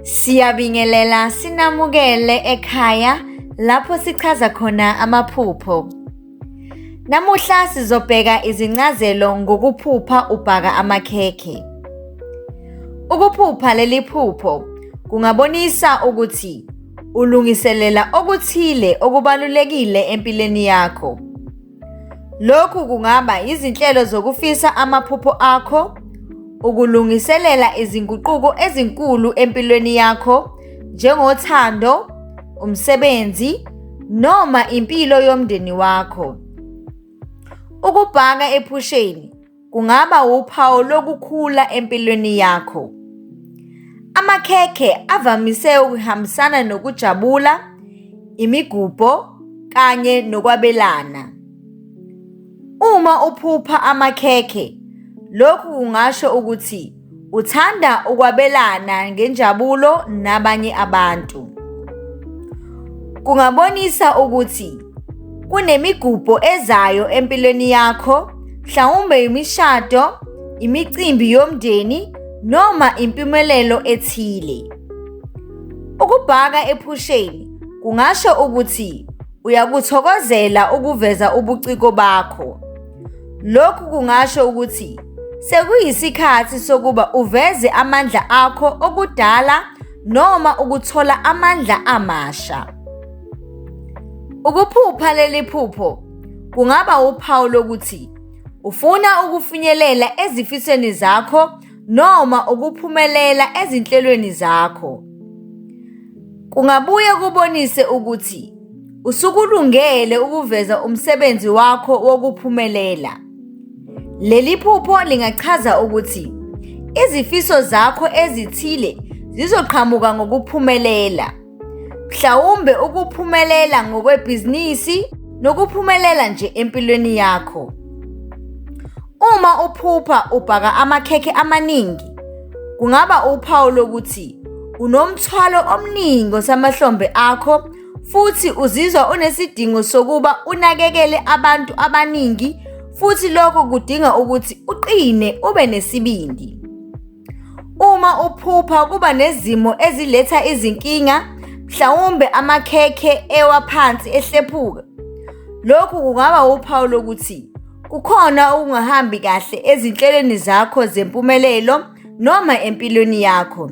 Siyabingelela sinamukele ekhaya lapho sichaza khona amaphupho. Namuhla sizobheka izincazelo ngokuphupha ubhaka amakhekhe. Ukuphupha leli phupho kungabonisa ukuthi Ulungiselela okuthile okubalulekile empilweni yakho. Lokhu kungaba izinhlelo zokufisa amaphupho akho, ukulungiselela izinguquko ezinkulu empilweni yakho njengothando, umsebenzi noma impilo yomndeni wakho. Ukubhaka ephusheni kungaba wuphawu lokukhula empilweni yakho. Amakhekhe avamise ukuhambisana nokujabula, imigubho kanye nokwabelana. Uma uphupha amakhekhe, lokhu kungasho ukuthi Uthanda ukwabelana ngenjabulo nabanye abantu. Kungabonisa ukuthi kunemigubho ezayo empilweni yakho, mhlawumbe imishado, imicimbi yomndeni noma impumelelo ethile. Ukubhaka ephusheni kungasho ukuthi uyakuthokozela ukuveza ubuciko bakho. Lokhu kungasho ukuthi sekuyisikhathi sokuba uveze amandla akho okudala noma ukuthola amandla amasha. Ukuphupha leli phupho kungaba uphawu lokuthi ufuna ukufinyelela ezifisweni zakho noma ukuphumelela ezinhlelweni zakho. Kungabuye kubonise ukuthi Usukulungele ukuveza umsebenzi wakho wokuphumelela. Leli phupho lingachaza ukuthi izifiso zakho ezithile zizoqhamuka ngokuphumelela. Mhlawumbe ukuphumelela ngokwebhizinisi nokuphumelela nje empilweni yakho. Uma uphupha ubhaka amakhekhe amaningi, kungaba uphawu lokuthi unomthwalo omningi osamahlombe akho futhi uzizwa unesidingo sokuba unakekele abantu abaningi futhi lokho kudinga ukuthi uqine ube nesibindi. Uma uphupha kuba nezimo eziletha izinkinga, mhlawumbe amakhekhe ewa phansi ehlephuka. Lokhu kungaba uphawu lokuthi kukhona okungahambi kahle ezinhlelweni zakho zempumelelo noma empilweni yakho.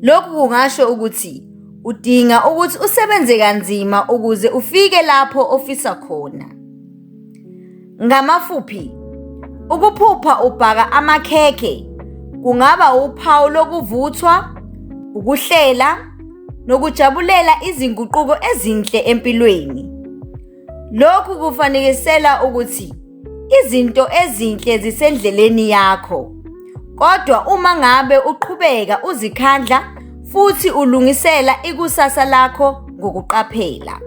Lokhu kungasho ukuthi udinga ukuthi usebenze kanzima ukuze ufike lapho ofisa khona. Ngamafuphi, ukuphupha ubhaka amakhekhe kungaba uphawu lokuvuthwa, ukuhlela nokujabulela izinguquko ezinhle empilweni. Lokhu kufanekisela ukuthi izinto ezinhle zisendleleni yakho. Kodwa uma ngabe uqhubeka uzikhandla futhi ulungisela ikusasa lakho ngokuqaphela.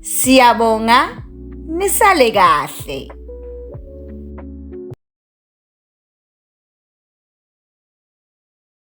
Siyabonga nisale kahle.